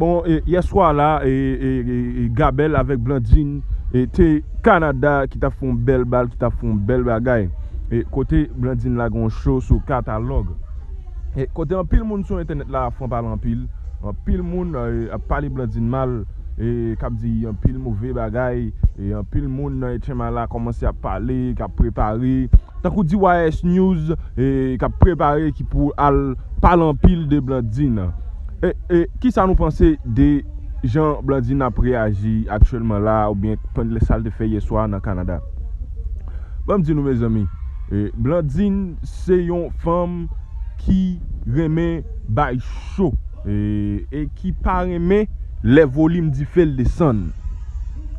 Bon yè swa la Gabel avèk Blandine te Canada ki tap fè yon bèl bal ki tap fè yon bèl bagay kote Blandine lage yon show sou katalòg kote anpil moun sou entènèt la ap fran pale anpil anpil moun ap pale Blandine mal kap di anpil move bagay anpil moun nan etchenma la kòmanse ap pale kap prepare Tankou di YS News k ap prepare ki pou al pale anpil de Blandine. E kisa nou panse de jan Blandine ap reyaji aktyèlman la a oubyen sa l te fè yè swa nan Kanada? Ban m di nou mezanmi, Blandine se yon fanm ki renmen bay cho e ki pa renmen lè volim dife l desann.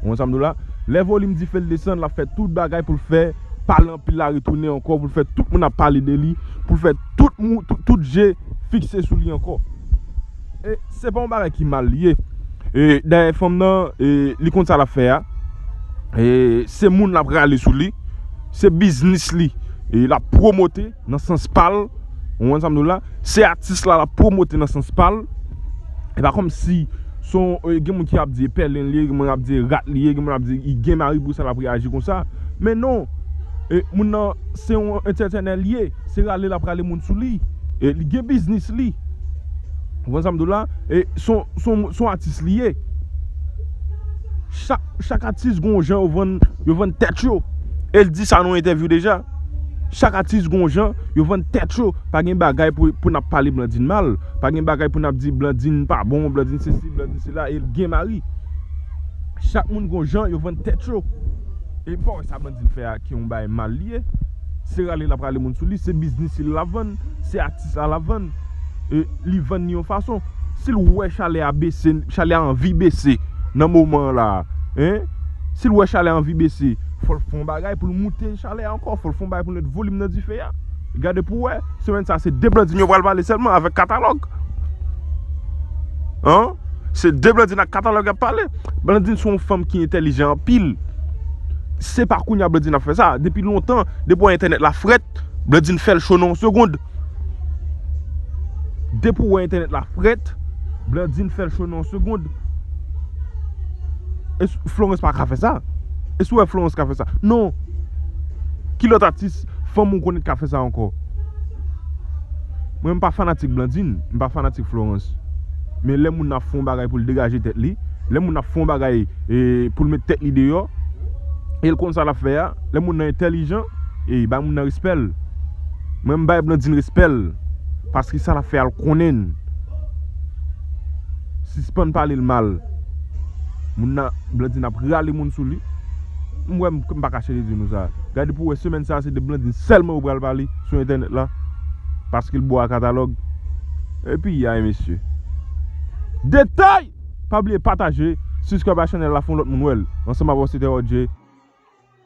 Ou konprann sa m di w la? Lè volim dife l desann l ap fè tout bagay pou l fè. pale anpil la retounen ankò pou l fè tout moun ap pale de li, pou l fè tout je fikse sou li ankò. E se pa yon bagay ki mal li ye. E dayè fanm nan li konn sa l ap fè a. Se moun l ap rale sou li. Se biznis li l ap pwomote. nan sans pal, ou konprann sa m di w la, se atis la lap pwomote nan sans pal, e pa kòm si son, gen moun ki ap di e pèlen li ye, gen moun kap di e rat li ye, gen moun kap di i gen mari pou sa lap reyaji konsa, men non, e moun nan se yon entètenè li ye, se rale lap rale moun sou li, e li gen biznis li, ou konprann sa m di w la, e son, son, son atis li ye, chak, chak atis gon jan yo vann, yo vann tèt yo, e l di sa nan yon entèvyou deja. Chak atis gon jan yo vann tèt yo pa gen bagay pou nap pale Blandine mal pa gen bagay pou nap di Blandine pa bon Blandine sesi Blandine sela el gen mari chak moun gon jan yo vann tèt yo epi pa wè sa Blandine fè a ki yon bagay mal li ye se rale lap rale moun sou li se biznis li lap vann se atis la lap vann li vann li yon fason sil wè chalè a bese chalè a anvi bese nan moman la si l wè chalè a anvi bese. Fò l fè yon bagay pou l moute chalè a ankò. Fò l fè yon bagay pou l met volim nan dife a. Gade pou w wè, semèn sa a se de Blandine yo pral pale sèlman avèk katalòg. An, se de Blandine ak katalòg y ap pale. Blandine se yon fanm ki entèlijan anpil. Se pa kounye a Blandine ap fè sa. Depi lontan, depi wè entènèt la frèt, Blandine fè l cho nan yon segond. Depi w wè entènèt la frèt, Blandine fè l cho nan yon segond. Florence pa ka fè sa. E si w wè Florence ka fè sa? Non! Ki lòt atis fanm ou konnen ki ka fè sa ankò? Mwen m pa fanatik Blandine, m pa fanatik Florence. Men lè moun ap fè yon bagay pou l degaje tèt li, lè moun ap fè yon bagay pou l mete tèt li deyò, e l konn sa l ap fè a, lè moun nan entèlijan, ey, bay moun nan respè l. Mwen m bay Blandine respèl paske sa lap fè al konnin sispann palel mal moun nan Blandine ap rale moun sou li m wè m pa kache de di nou sa gade pou wè semèn sa se de Blandine sèlman yo pral pale sou entènèt la paske l bo a katalòg e piyay mesye detay pa bliye pataje siskrèb a chanèl la fon lòt moun wèl ansanm avèw se te Rodjee.